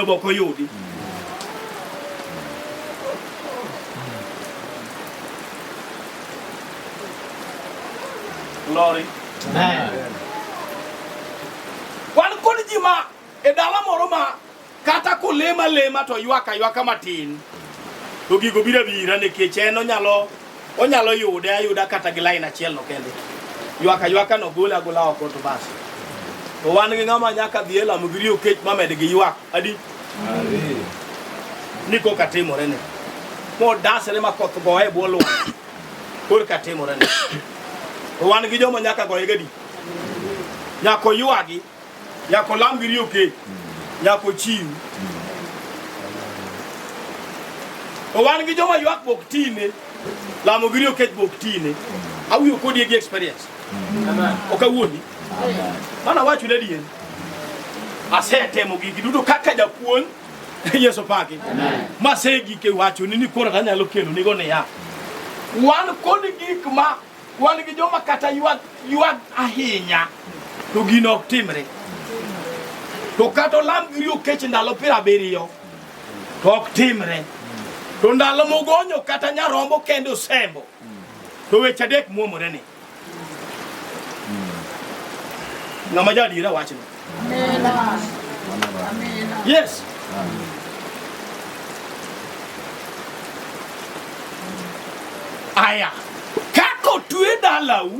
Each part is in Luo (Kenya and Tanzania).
Job ok oyudi. Glory. Wan kod ji ma e dala moro ma kata kolema lema to ywaka ywaka matin to gigo biro bira nikech en onyalo Onyalo yude ayuda kata gi lain achiel no kende. Ywak aywaka no gole agola oko to bas. To wan gi ng'ama nyaka dhi e lamo gi riyo kech mamed gi ywak. Adi? Ni koka timore ni. Modasre ma koth goye e bwo lwanda. Korka timore ni. To wan gi joma nyaka goye gadi. Nyako ywagi Nyaka olam gi riyo kech, nyaka ochiw. To wan gi joma ywak bok tine, lamo gi riyo kech bok tine. Awuyo kodi e gi experience. Ok awuondi. Mana wacho ne dien. Asetemo gigi duto kaka japuonj Yesu paki. Masegi ke wacho ni ni koro anyalo kelo nigo ne ya. Wan kod gik ma Wan gi joma kata ywag ywag ahinya to gino ok timre. To kata olam giri okech ndalo piero abiriyo to ok timre. To ndalo mogonyo kata nyarombo kendo osembo to weche adek muomore ni. Ng'ama ja adiera wachno. Yes. Aya, kako tue dalau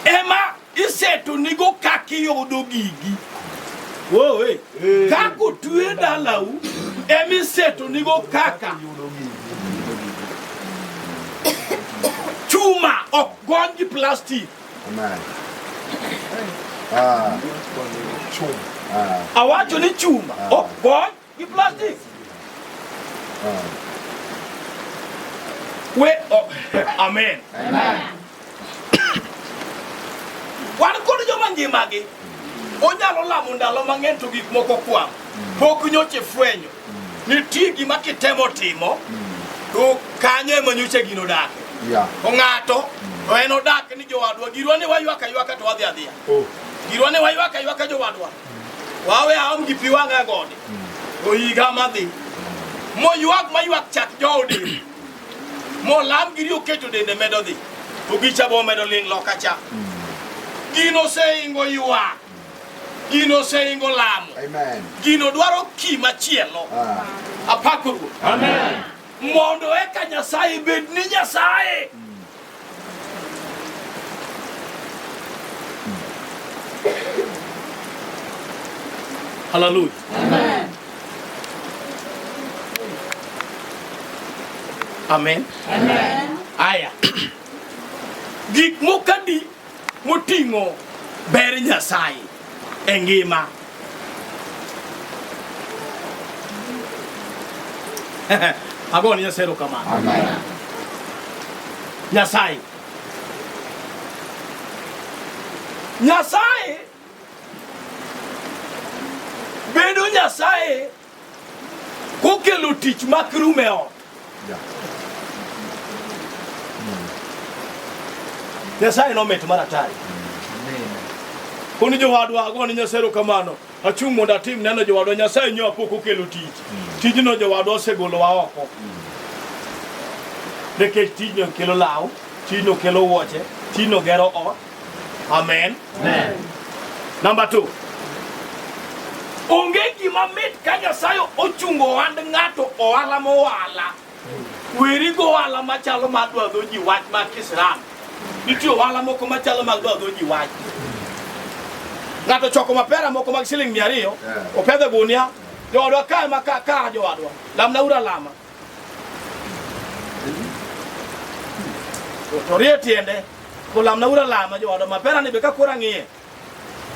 ema iseto nigo kaki yodo gigi. Whoa, hey. hey. Kako tue dalau ema iseto nigo kaka chuma ok gony gi plastic awacho ni chuma ok gony gi plastic we oh, amen wan kod joma ngimagi onyalo lamo ndalo mang'eny to gik moko kwam pok nyoche fwenyo Nitie gima kitemo timo to kanyo ema nyocha gino dak. Yeah. To ng'ato to en odak ni jowadwa girwa ni waywaka ywaka to wadhi adhiya. Oh. Girwa ni waywaka ywaka jowadwa. Wawe aom gi pi wang'a gode. To higa madhi. Moywak maywak chak joode. Molam giri oketo dende medo dhi. To gicha bo medo ling' loka cha. Gino seingo ywak. Gino oseingo lamo. Amen. Gino dwaro kii machielo. Ah. Apako Ruoth. Amen. Mondo eka Nyasaye bed ni Nyasaye. Mm. Hallelujah. Amen. Amen. Amen. Aya. Gik mokadi moting'o ber Nyasaye e ngima. Agone Nyasaye erokamano. Nyasaye Nyasaye bedo Nyasaye kokelo tich mak rum e ot. Nyasaye nomit mar atari. Koni jowadwa ago ni Nyasaye kamano. Achung' mondo atim neno jowadwa Nyasaye nyo apok okelo tich. Tijno jowadwa osegolo wa oko. Nikech tijno kelo law, tijno kelo wuoche, tijno gero ot. Amen. Amen. Number two. Onge gima mit ka Nyasaye ochungo ohand ng'ato ohala mowala. Weri go ohala machalo ma dwadho ji wach ma Kislam. Nitie ohala moko machalo mag dwadho ji wach. Ng'ato choko mapera moko mag siling' mia ariyo, opedho gunia, joodwa kae ma ka jowadwa, lamna ura lama. to rie tiende kolamna ura lama jooda mapera ni be ka koro ang'iye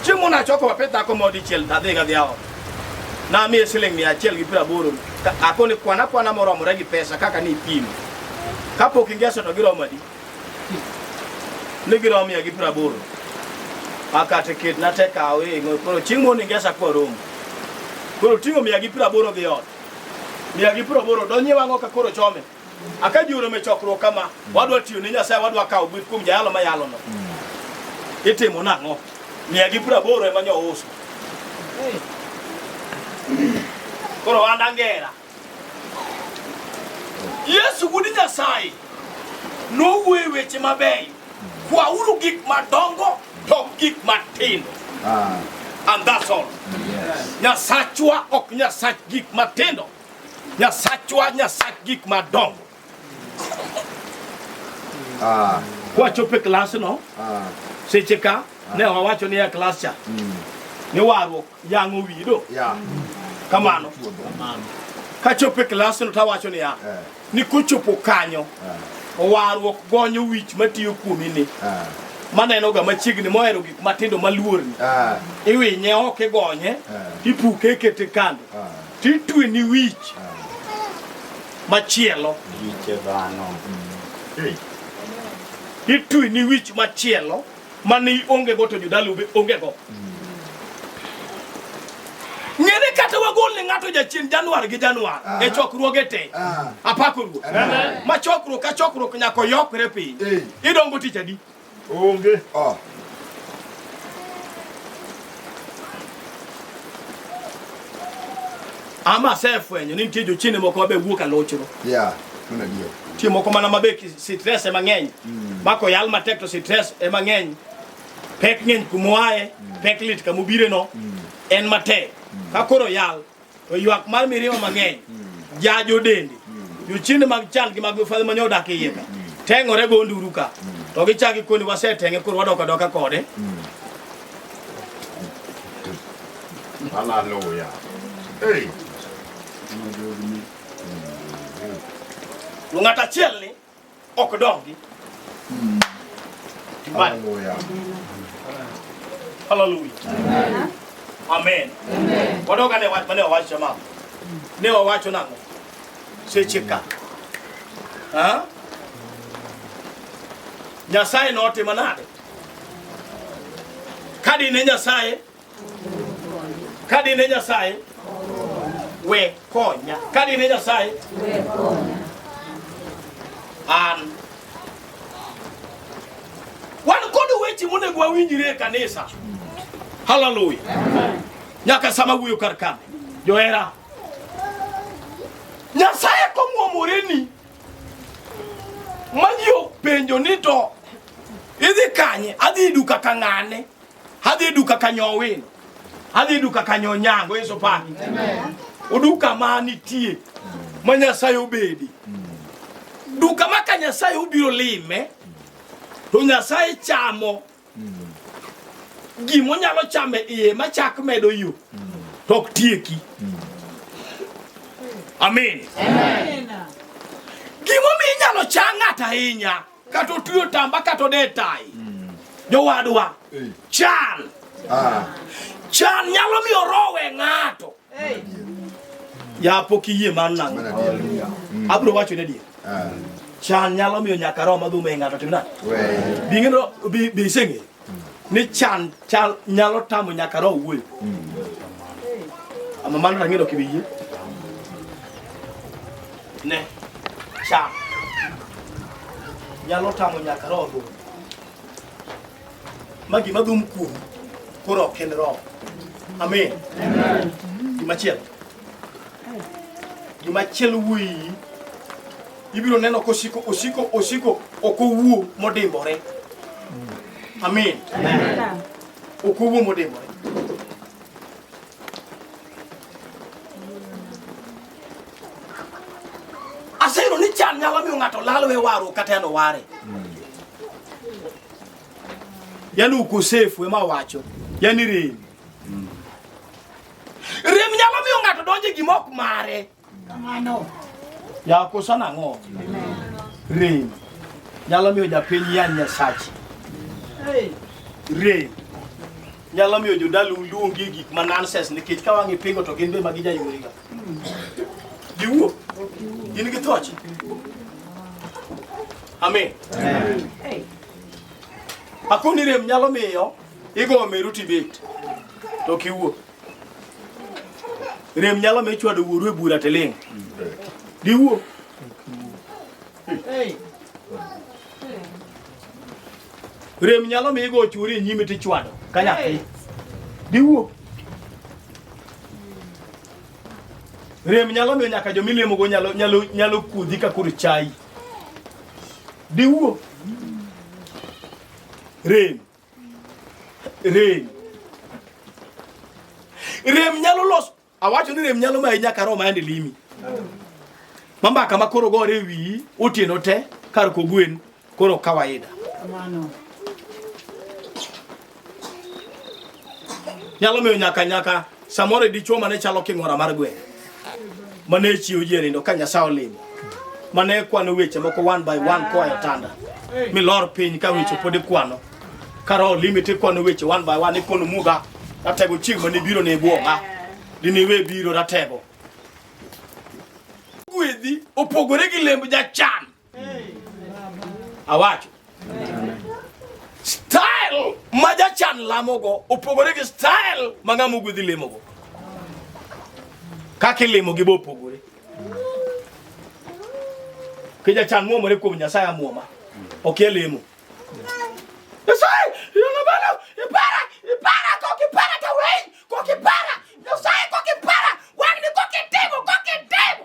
chieng' mona choko wape dhako ma odichiel tadhi ka dhiawa namiye siling' mia achiel gi piero aboro ako ni kwana kwana moromore gi pesa kaka ni ipimo kapok ingeso to giromo adi ni giromo mia gi piero aboro akate ket nate kawe koro chieng' mondo ingesa kwa romo koro ting'o mia gi piero aboro dhi ot Mia gi piero aboro donye wang'o ka koro chome. Aka jiwro me chokruok kama, wadwa tiyo ne Nyasaye, wadwa kawo gweth kuom jayalo ma yalo no. Itimo nang'o? Mia gi piero aboro ema nyo uso. Koro wanda ngera. Yesu wuod Nyasaye nowuoyo weche mabeyo Kwauru gik madongo to gik matindo. Ah. And that's all. Yes. Nyasachwa ok nyasach gik matindo. Nyasachwa nyasach gik madongo. Ah. Kwachope klas no. Ah. Seche ka ah. ne wawacho ni ya klas cha. Mm. Ni warruok yang'o wido. Yeah. Kamano. Kamano. Kachope klas no tawacho ni ya. Eh. ni kochopo kanyo ah. warruok gonyo wich matiyo kuomi ni ah. manenoga machiegni mohero gik matindo maluorni ah. iwinye ok igonye ipuke ikete kando titwe ni wich machielo itwe ni wich machielo mane onge go to jodalo be onge go ng'ere kata wagol ne ng'ato jachien januar gi januar e chokruoge te apako ruoth ma chokruok ka chokruok nyaka oyokre piny idongo tich adi onge ama asefwenyo ni nitie jochiende moko mabe wuok alochro yeah, nitie moko mana mabe sitres ema ng'eny mm. mako yal matek to sitres ema ng'eny pek ng'eny kumoaye mm. pek lit kamobireno mm. en matek mm. ka koro yal To ywak mar mirima mang'eny hmm. jajo dende. Hmm. Jochiende mag chal gi mag mifadhi manyo odak iye ka. Hmm. Teng'ore go nduru ka. To gichaki koni wasetenge koro wadok adoka kode. Hallelujah. Hey. Ng'at achiel ni ok dongi. Mm. Hallelujah. Hallelujah. Amen. Amen. Amen. Wadoka ne watu ne wawacho mama. Ne wawacho nango. Seche ka. Ha? Nyasaye notimo nade? Kadi ne Nyasaye Kadi ne Nyasaye we konya. Kadi ne Nyasaye we konya. An wan kod weche monego wawinjre e kanisa. Haleluya. Nyaka sama wuyo kar kane. Johera. Nyasaye komwomoreni mani openjo ni to idhi kanye adhi duka ka ng'ane Adhi duka kanyo Owino, adhi duka kanyo Onyango, Yesu pani uduka ma nitie ma Nyasaye obedi duka ma ka Nyasaye obiro lime to Nyasaye chamo gima onyalo chame iye ma chak medo yo to ok tieki. Amin. Gimomiyo inyalo chang ng'ato ahinya Kata otuyo tamba kata ode tai. Mm. Jowadwa. Eh. Chan. Ah. Chan nyalo miyo roho we ng'ato. Eh. Ya pok iyie man nang'o. Mm. Abro wacho ne dier. Ah. Chan nyalo miyo nyaka roho madhume ng'ato tim nade? Bi ng'e bi bi seng'e. ni chan chal nyalo tamo nyaka roho wuoyo ama mano rang'ino kibiye ne chan nyalo tamo nyaka roho wuoyo ma gima dhum kuom koro ok en roho amen gimachielo Gima chielo wuoyi ibiro neno kosiko osiko osiko ok owuo modimbore. Amen. Ok owuo modimbore. Aseyudo ni chan nyalo miyo ng'ato lal we waru kata en oware. Yaani ukosefu ema wacho. Yaani rem. Rem nyalo miyo ng'ato donje gima ok mare. Kamano. Ya kosa nang'o? Rem nyalo miyo japiny ya nyasachi. Rem nyalo miyo jodalu luongi gik ma nonsense nikech ka wang'e pingo to gin be magi jayoriga. Giwuo. Gin gi thoche. Amen. Amen. Akoni rem nyalo miyo Igo meru tibet. To kiwuo. Rem nyalo me chwado wuoru e bura tiling'. Diwuo. Hey. Rem nyalo mi igo churi e nyime tichwado ka nyathi. Diwuo. Rem nyalo miyo nyaka jo milemogo nyalo nyalo nyalo kuodhi ka kor chai. Diwuo. Rem Rem. Rem nyalo los awacho ni rem nyalo mayi nyaka roho mayande limi. Mambaka ma koro gore wiyi otieno te kar kogwen koro kawaida. Kamano. Nyalo miyo nyaka nyaka Samoro dichuo mane chalo king'ora mar gweng' mane chiwo ji nindo ka Nyasaye olimo mane kwano weche moko one by one koa e otanda milor piny ka weche pod ikwano kara olimite kwano weche one by one ikono muga ratego chieng' mane biro ne bwoga diniwe biro ratego gwedhi opogore gi lemb jachan Awacho. Style ma jachan lamogo opogore gi style ma ng'ama ogwedhi lemogo. Kaka ilimo gi bopogore. Kija chan muomore kuom Nyasaye amuoma. Ok elemo. Nyasaye, yona bana, ipara, ipara, kok ipara ta wei, kok ipara, Nyasaye kok ipara, wangni kok itimo, kok itimo.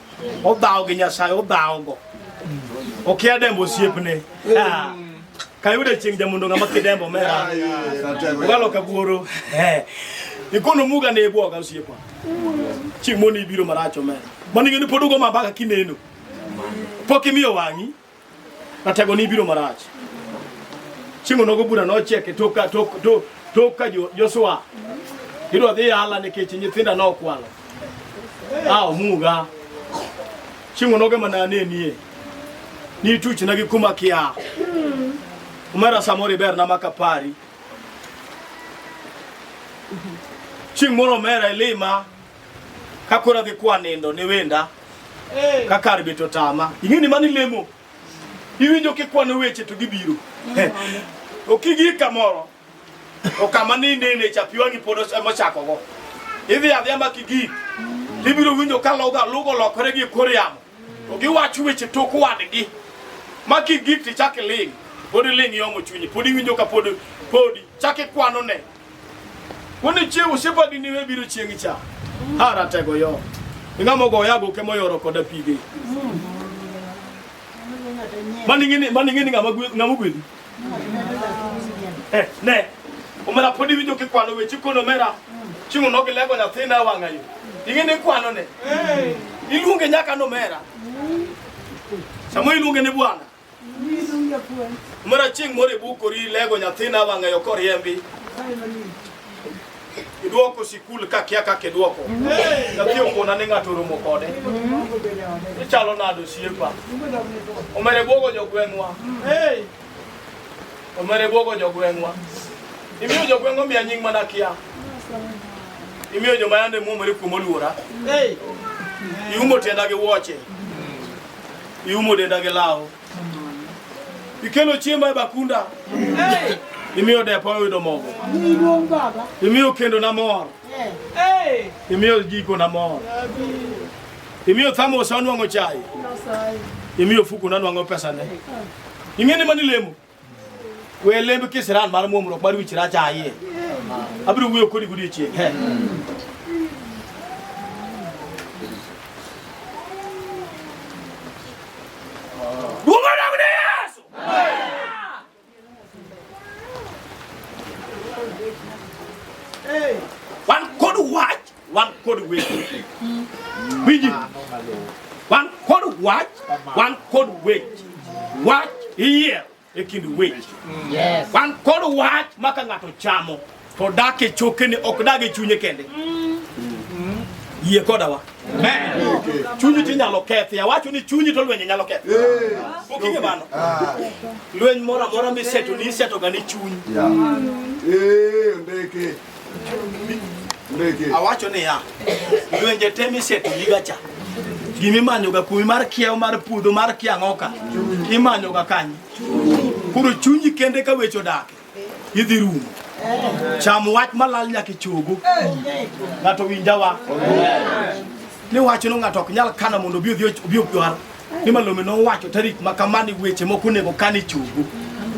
odhawo gi nyasaye odhawogo okia dembo osiepne Ah, kayude chieng' jamundo ng'ama kidembo mera ogalo kabuoro Eh, ikono muga ne ibwoga osiepa chieng' moni ibiro marach omera maning'eni pod ugo mabaka kineno pok imiyo wang'i Ratego ni biro marach. Chieng' onogo bura nochiek e tok ka tok tok tok ka Jo- Joshua. Idwa dhi yala nikech nyithinda nokwalo. Ah, omuga. Chieng' onogo mana anenie. Ni tuchna gi kuma kia. Umera samoro iberna maka pari. Chieng' moro omera ilima Ka koro adhi kwa nindo ne wenda ka kar bet otama. Ing'e ni mani lemo. Iwinjo kikwano weche to gibiro. Okigi kamoro. Okama ni nene chapi wangi pod ema chako go. Idhi adhiya ma kigi. Ibiro winjo ka loga lugo lokore gi kor yamo. To giwacho weche tok wadgi. Ma kigi ti chak iling. Pod iling yomo chunyi. Pod iwinjo ka pod podi chak ikwano ne. Woni chieng' osiepadi ni we biro chieng' cha. Ha ratego yo. Inga mogo oyago ke moyoro koda pige. Mani ngini mani ngini ngama ngama gwedi. Eh ne. Omera podi winjo ke kwano weche kono mera. Chimu no ke lego nyathina wanga yo. Ingene kwano ne. Iluonge nyaka no mera. Samo iluonge ne bwana. Mara chieng' moro ibukori ilego nyathina wang'eyo koriembi idwoko sikul kakia kaka idwoko nyathi okona ni ng'ato oromo kode ichalo nado osiepa omere bwogo jogweng'wa omere bwogo jogweng'wa imiyo jogweng' omiya nying' mana kia imiyo joma yande muomore kuom oluora iumo tienda gi wuoche iumo denda gi law, ikelo chiemba e bakunda, imiyo depo oyudo mogo, imiyo kendo na mor, imiyo jiko na mor, imiyo thamos onwang'o chai, imiyo fuku na nwang'o pesane. Ing'e ni mani lemo we lemb kisiran mar muomruok mar wich rach ayie abiro wuoyo kodi godiechieng' he Duong' odog ne Yesu! wan kod wach wan kod weche winji wan kod wach wan kod weche wach iyier e kind weche wan kod wach ma ka ng'ato chamo to dak e chokene ok dag e chunye kende yie kodawa chunyi ti nyalo kethi awacho ni chunyi to lwenye nyalo kethi okinge mano ah. lweny moro amora miseto ni isetoga ni chunyi Awacho niya, lwenje te misetuliga cha gima imanyoga kuomi mar kiewo mar puodho mar kiang'oka imanyoga kanyo koro chunyi kende ka weche odake idhi rumo cham wach malal nyaka ichogo ng'ato winjawa ni wacho ni ng'ato ok nyal kano mondo obi odhi obi odwar ni malome nowacho tarik ma kamani weche moko onego kan ichogo